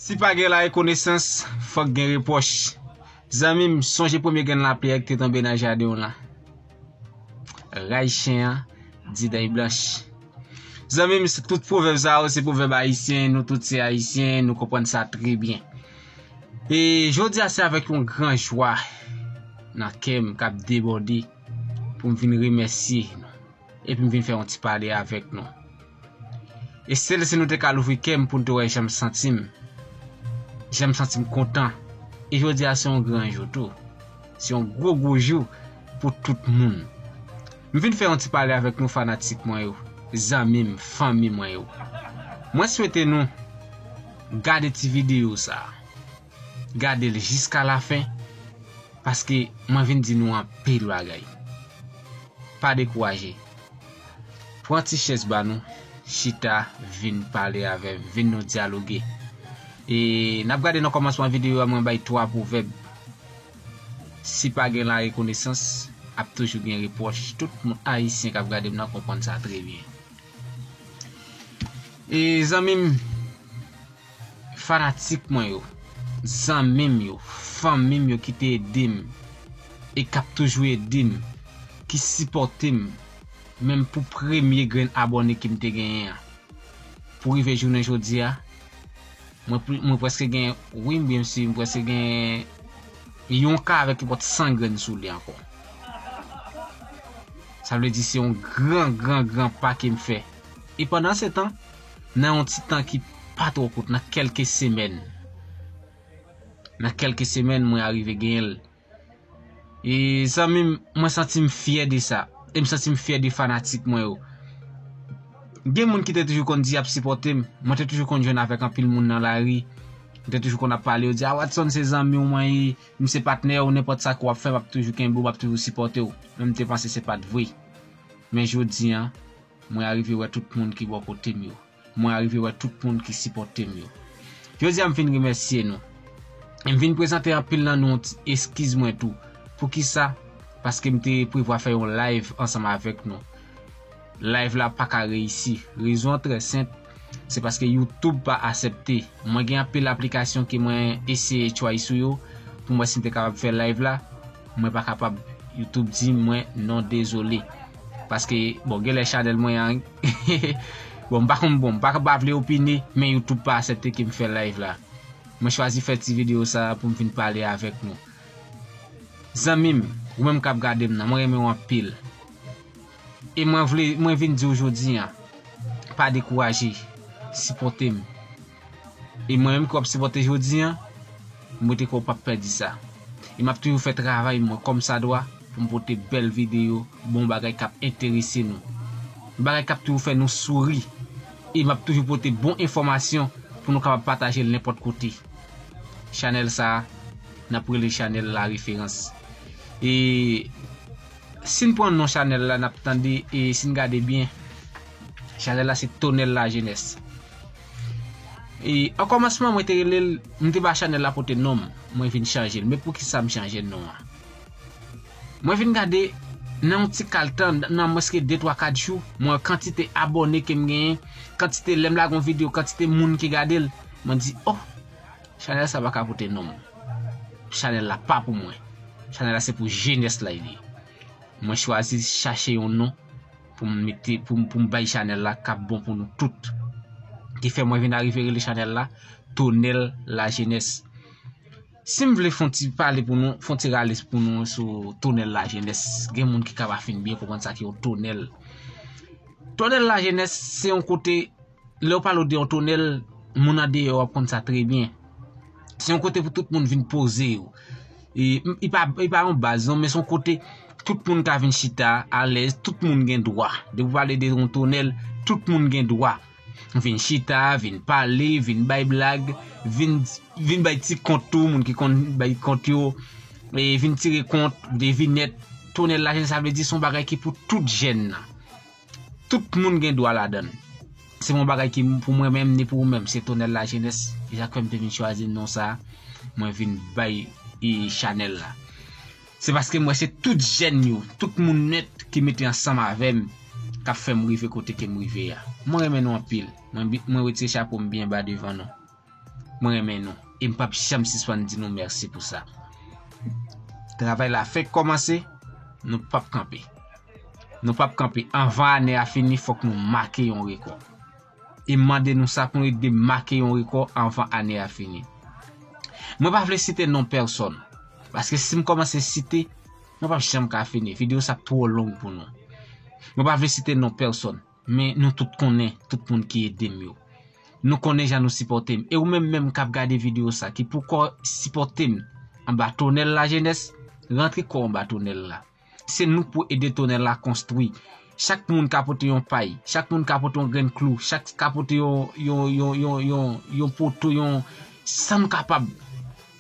Si pa gen larekonesans, fòk gen repwòch. Zanmi m, sonje premye grenn lapyè ki te tonbe nan jaden w lan. Raj chen an di dèy blanch. Zanmi m, tout pwovèb sa yo se pwovèb ayisyen, nou tout se ayisyen, nou konprann sa trè byen. E jodi a se avèk yon gran jwa nan kè m k ap debòde pou m vin remèsye nou. Epi m vin fè yon ti pale avèk nou. E sèl si nou te ka louvri kè m pou nou te wè jan m santi m. Jan m santi m kontan. E jodi a se yon gran jou tou. Se yon gwo gwo jou pou tout moun. M vin fè yon ti pale avèk nou fanatik mwen yo, zanmi m, fanmi mwen yo. Mwen swete nou gade ti videyo sa. gadel jiska la fin paske mwen vin di nou anpil bagay pa dekouraje pran ti chèz ba nou chita vin pale avèm vin nou dyaloge e nap gade nan kòmansman video a mwen bay 3 pwovèb si pa gen la rekonesans ap toujou gen repwòch tout moun ayisyen kap gadem nan konprann sa trè byen e zanmim. Fanatik mwen yo, zanmi m yo, fanmi m yo ki te ede m e k ap toujou ede m, ki sipòte m menm pou premye grenn abòne ke m te genyen an. Pou rive jounen jodi a, mwen mwen prèske gen, wi byen msi, mwen prèske gen yon ka avèk kipòt 100 grenn sou li ankò. Sa vle di se yon gran gran gran pa ke m fè. E pandansetan. nan yon ti tan ki pa twò kout, nan kèlke semèn, nan kèlke semèn mwen arive genyen l. E zanmi m, mwen santi m fyè de sa, e m santi m fyè de fanatik mwen yo. Gen moun ki te toujou konn di y ap sipòte m, mwen te toujou konn jwenn avèk anpil moun nan lari, yo te toujou konn ap pale, yo di, a Watson se zanmi w mwen ye, m se patnè w, nenpòt sa ke w ap fè m ap toujou kenbe w, m ap toujou sipòte w. Men m te panse se pa t vre. Men jodi an. Mwen arive wè tout moun ki bò kote m yo. Mwen arive wè tout moun ki sipòte m yo. Jodi a m vin remèsye nou. E m vin prezante anpil nan nou yon ti eskiz mwen tou. Poukisa? Paske m te prevwa fè yon live ansanm avèk nou. Live la pa ka reyisi. Rezon an trè senp. Se paske youtube pa asepte. Mwen gen anpil aplikasyon ke mwen eseye try sou yo poum wè sim te kapab fè live la mwen pa kapab youtube di mwen non dezole paske bon genlè chanèl mwen an bon mpa konn bon mpa ka vle opine men youtube pa asepte kem fè live la mwen chwazi fè ti video sa poum vin pale avèk nou zanmim ou menm kap gadem nan mwen renmenw anpil E mwen vle mwen vin diw jodi an pa dekouraje sipòtem e mwen menm ki wap sipòte jodi an m wete kouw pap pèdi sa e map toujou fè travay mwen kòm sa dwa poum pote bèl videyo bon bagay kap enterese nou bagay kap toujou fè nou souri e map toujou pote bon enfòmasyon pou nou kapab patajel nenpòt kote chanèl sa nap rele chanèl la referans e. Sin pran non chanel la nap tande e sin gade byen chanel la se tonel la jenes e o komansman mwen te relel m te ba chanel la pote nom mwen vin chanjel men poukisa m chanje non an mwen vin gade nan yon ti kal tan nan mwens ke 2 3 4 jou mwen wè kantite abone kem genyen kantite lèm lage yon video kantite moun ki gadel mwen di oh chanel sa paka pote nom. Chanel la pa pou mwen. Chanel la se pou jenès la li ye. Mwen chwazi chache yon non pou m mete pou m bay chanel la kap bon pou nou tout. Ki fè mwen vin arive rele chanel la Tonel la jenès. Si m vle fon ti pale pou nou, fon ti rale pou nou sou Tonel la jenès. Gen moun ki ka pa fin byen konprann sa ki yon tonel. Tonel la jenès se yon kote Lè ou pale ou de yon tonèl, moun andeyò ap konn sa trè byen. Se yon kote pou tout moun vin poze yo. E, li pa, li pa yon baz non, men se yon kote tout moun ka vin chita alèz, tout moun gen dwa. Depi ou pale de yon tonèl, tout moun gen dwa. Vin chita, vin pale, vin bay blag, vin, vin bay ti kont tou, moun ki konn bay kont yo. E, vin tire kont, devinèt. Tonèl la, sa vle di, se yon bagay ki pou tout jèn nan. Tout moun gen dwa ladan l. Se pa yon bagay ki pou mwen menm ni pou ou menm, se Tonèl Lajenès, e sa k fè m te vin chwazi non sa a, mwen vin bay chanèl la. Se paske m wè se tout jèn yo, tout moun nèt ki mete ansanm avè m k ap fè m rive kote ke m rive a. Mwen renmen nou anpil. Mwen wete chapo m byen ba devan nou. Mwen renmen nou e m pap janm sispann di nou mèsi pou sa. Travay la fenk kòmanse, nou pap kanpe. Nou pap kanpe, anvan ane a fini fòk nou make yon rekò. E m mande nou sa pou nou ede m make yon rekò anvan ane a fini. Mwen pa vle site non pèsòn, paske si m kòmanse site, mwen pap janm ka fini, videyo sa ap twò long pou nou. Mwen pa vle site non pèsòn. Men nou tout konnen tout moun ki ede m yo. Nou konnen jan nou sipòte m. E ou menm menm k ap gade videyo sa ki poukò sipòte m anba tonèl lajenès, rantre kò w anba tonèl la. Se nou k pou ede tonèl la konstwi. Chak moun ka pote yon pay, chak moun ka pote yon grenn klou, chak ka pote yon poto, yon, sa m kapab.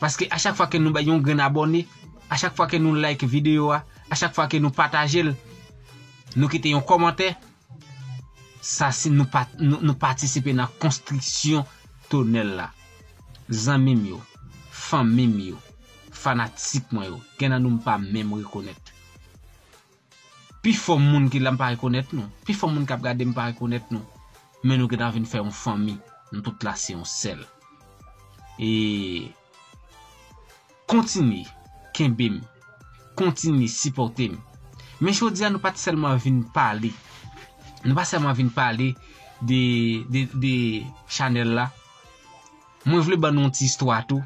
Paske a chak fwa ke nou bay yon grenn abòne, a chak fwa ke nou like videyo a, a chak fwa ke nou pataje l, nou kite yon kòmantè, sa si nou patisipe nan konstriksyon tonèl la. Zanmi m yo, fanmi m yo, fanatik mwen yo, gen nan nou m pa menm rekonèt. Pifò moun ki la m pa rekonèt nou. Pifò moun k ap gade m pa rekonèt nou. Men nou gentan vin fè yon fanmi. Nou tout la se yon sèl. E Kontinye kenbe m. Kontinye sipòte m. Men jodi a nou pa t sèlman vin pale. Nou pa sèlman vin pale de chanèl la. Mwen vle ban nou yon ti istwa tou.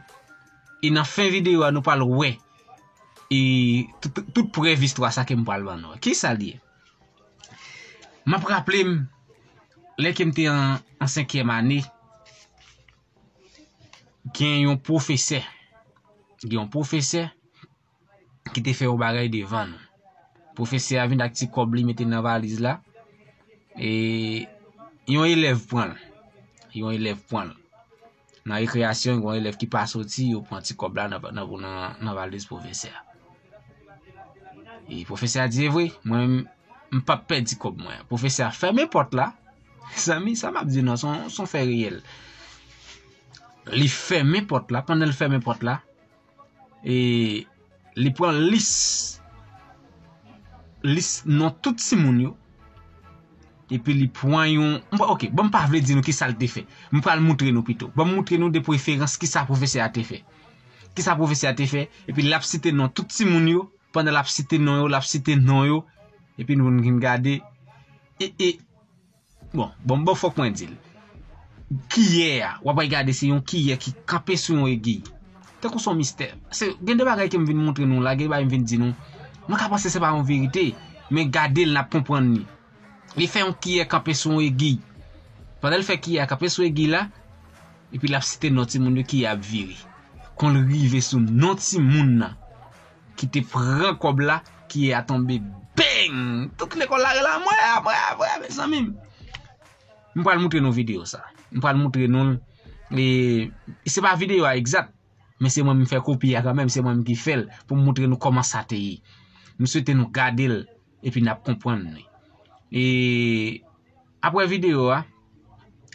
E nan fen videyo a nou pral wè. E tout prèv istwa sa kem pral ban nou. Ki sal ye? Map raplem lè kem te an senkyèm ane gen yon pwofesè gen yon pwofesè ki te fè yon bagay devan nou. Pwofesè a vin ak ti kòb li mete nan valiz la e yon elèv pranl. Yon elèv pranl. Nan rekreyasyon gwen elèv ki pa soti yo pran ti kòb la nan valiz pwofesè a. E pwofesè a di e vwe, mwen m pap pè di kòb mwen. Pwofesè a fèmen pòt la, zanmi sa map di nan son fè reyèl. Li fèmen pòt la, pandan li fèmen pòt la. E li pran lis, lis non tout timoun yo, epi li pran yon, ok, bon m pa vle di nou ki sa l te fè, m pral moutre nou pito, bon m moutre nou de preferans ki sa pwofesè a te fè. Ki sa pwofesè a te fè, epi l ap site non tout timoun yo, pandan l ap site non yo, l ap site non yo, epi nou vin gade, e, e. Bon, bon bon fòk mwen dil. Kiyè a, wap wè gade se yon kiyè ki kanpe sou yon egiy. Tankou son mistè. Se gen de bagay kem vin montre nou la, gen de bagay m vin di nou. Nou ka panse se pa yon verite, men gade l nap konprann li. Li fè yon kiyè kanpe sou yon egiy. Pandan l fè kiyè a kanpe sou egiy la, epi lap site non timoun yo kiyè a ap vire. Kon l rive sou non timoun nan. ki te pran kòb la kiye a tonbe beng tout lekòl la rele amwè amwè amwè mezanmi m pral moutre nou video sa m pral moutre nou l e se pa video a egzat men se mwen m fè kopi a kanmèm se mwen m ki fèl pou m moutre nou kòman sa te ye m swete nou gade l. Epi nap konpwann li. E apre video a,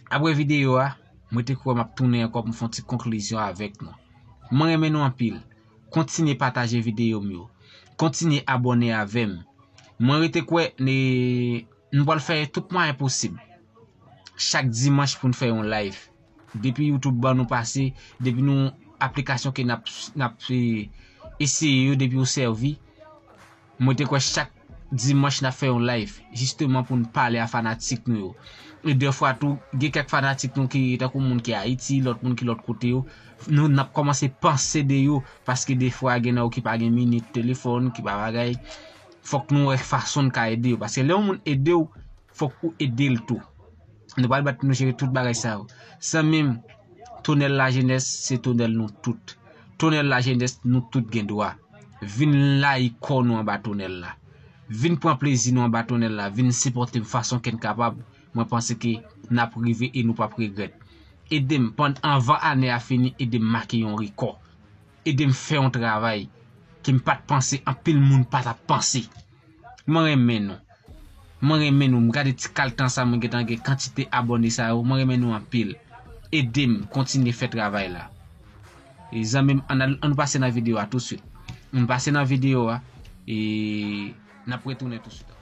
apre video a, mwen te kwè map tounen ankò pou m fon ti konklizyon avèk nou. Mwen renmen nou anpil. Kontinye pataje video m yo. Kontinye abòne avè m. Mwen rete kwè ne nou pral fè tout mwayen posib. Chak dimanch pou n fè yon live. Depi YouTube ban nou pase, depi nou aplikasyon ke nap eseye yo depi yo sèvi, Mwen te kwè chak Dimanch nap fè yon live jisteman poun pale a fanatik nou yo. E dè fwa tou gen kèk fanatik nou ki tankou moun ki Ayiti, lòt moun ki lòt kote yo, nou nap kòmanse panse de yo paske dè fwa gen nan yo ki pa gen minit telefòn, ki pa bagay. Fòk nou wè fasonn ka ede yo paske lè yon moun edew, Fok ou edel tou. Nou pral bat pou nou jere tout bagay sa yo. Zanmim Tonel la jenes se Tonel nou tout. Tonel la jenes nou tout gen dwa. Vin layi kò nou anba Tonel la. Vin pran plezi nou anba Tonel la. Vin sipotem fason ken kapab. Mwen panse ke nap rive e nou pap regret. Edem pann anvan ane a fini edem make yon rekò. ede m fè yon travay ke m pa t panse anpil moun pa t ap panse. Mwen renmen nou. Mwen renmen nou. M gade ti kal tan sa mwen gen tan gen kantite abòne sa yo. Mwen renmen nou anpil. Ede m kontinye fè travay la. E zanmi m, an nou pase nan videyo a tousuit. An nou pase nan videyo a e n ap retounen tousuit ankò.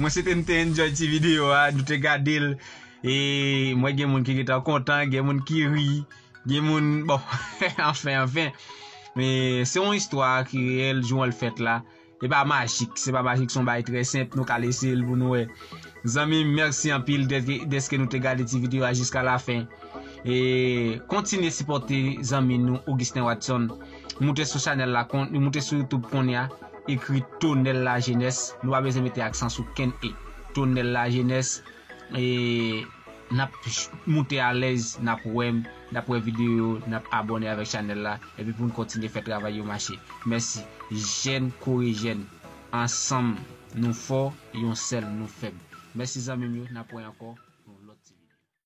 Mwen swete nou te enjoy ti video a, nou te gade l E mwen gen moun ki getan kontan, gen moun ki ri Gen moun, bon, anfen, anfen Se yon istwa ki reyèl, jou an l fèt la Li pa majik, se pa majik son bagay trè senp nou kal eseyel pou nou wè. Zanmim merci anpil deske nou te gade ti video a jiska la fen. E kontinye sipòte zanmi nou Augustin Watson. Moute sou chanèl la kon, moute sou YouTube konnya, ekri Tonel la Jenès, nou pa bezwen mete aksan sou kenn e. Tonel la Jenès e nap moute alèz nap wèm. Nap wè video yo nap abòne avèk chanèl la epi poun kontinye fè travay yo mache mèsi jèn kore jèn ansanm nou fò yon sèl nou fèb mèsi zanmim yo nap wè ankò nan yon lòt ti video.